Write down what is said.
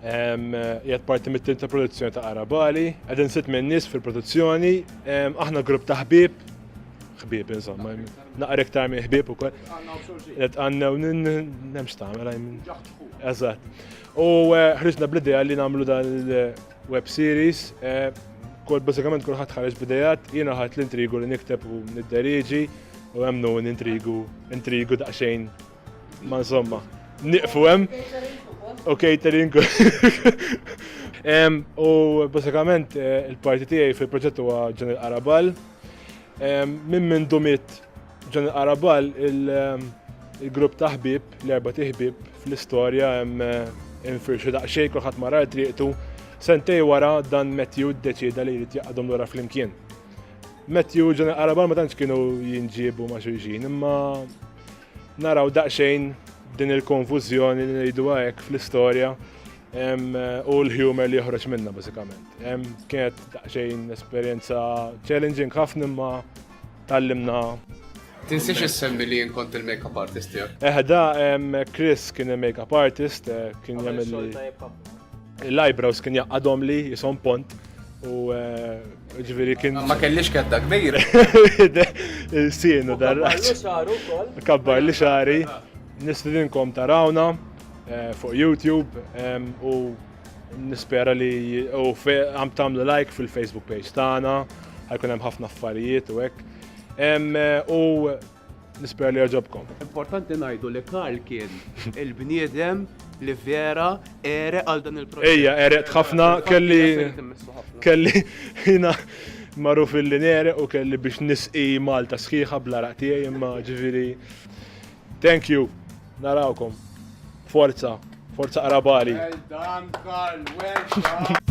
Jgħat parti mit-tim ta' produzzjoni ta' Arabali, għadin sit minn nis fil-produzzjoni, aħna grupp ta' ħbib, ħbib insomma, naqra iktar minn ħbib u kol. Għet għanna u nemx ta' għamela Eżat. U eh, ħriġna bl-ideja li namlu dan il-web series, eh, kol bazzikament kol ħat ħarġ bidejat, jina ħat l-intrigu li nikteb u nid-deriġi, u għemnu n-intrigu, intrigu daqxejn Ma insomma, niqfu hemm. U catering. U basikament eh, il-parti tiegħi fil-proġett huwa Ġan il-Qarabal. Minn minn dumit Ġan il-Qarabal il-grupp ta' ħbib, l-erba' tiħbib fl-istorja hemm eh, infirxu daqsxejn kulħadd mara triqtu. Sentej wara dan Matthew ddeċida li jrid jaqadhom lura flimkien. Matthew Ġan il-Qarabal ma tantx kienu jinġiebu ma' xulxin, imma Naraw daqsxejn din il-konfużjoni li ngħiduha hekk fl-istorja u l-humor li joħroġ minna bażikament. Kienet daqsxejn esperjenza challenging ħafna imma tallimna Tinsiex issemmi li kont il-makeup artist tiegħek. Eħda, Chris kien il-makeup artist, eh, kien jagħmel il-eyebrows kien jaqadhom li jisom pont u eh, Ġviri kien. Ma kellix kedda kbira. Il-sienu darraċ. Kabbar li xari. Nistidinkom tarawna eh, fuq YouTube u nispera li u għam tamlu like fil-Facebook page tagħna, ħajkun hemm ħafna affarijiet u hekk. Eh, u Nispera li għaġobkom. Importanti ngħidu li Karl kien il-bniedem li vera ere għal dan il-proġett. Ejja, ere ħafna kelli kelli jina maruf il nere u kelli biex nisqi Malta sħiħa bla raqtijaj imma ġiviri. Thank you, narawkom. Forza, forza qarabali. Well done, Karl, well done.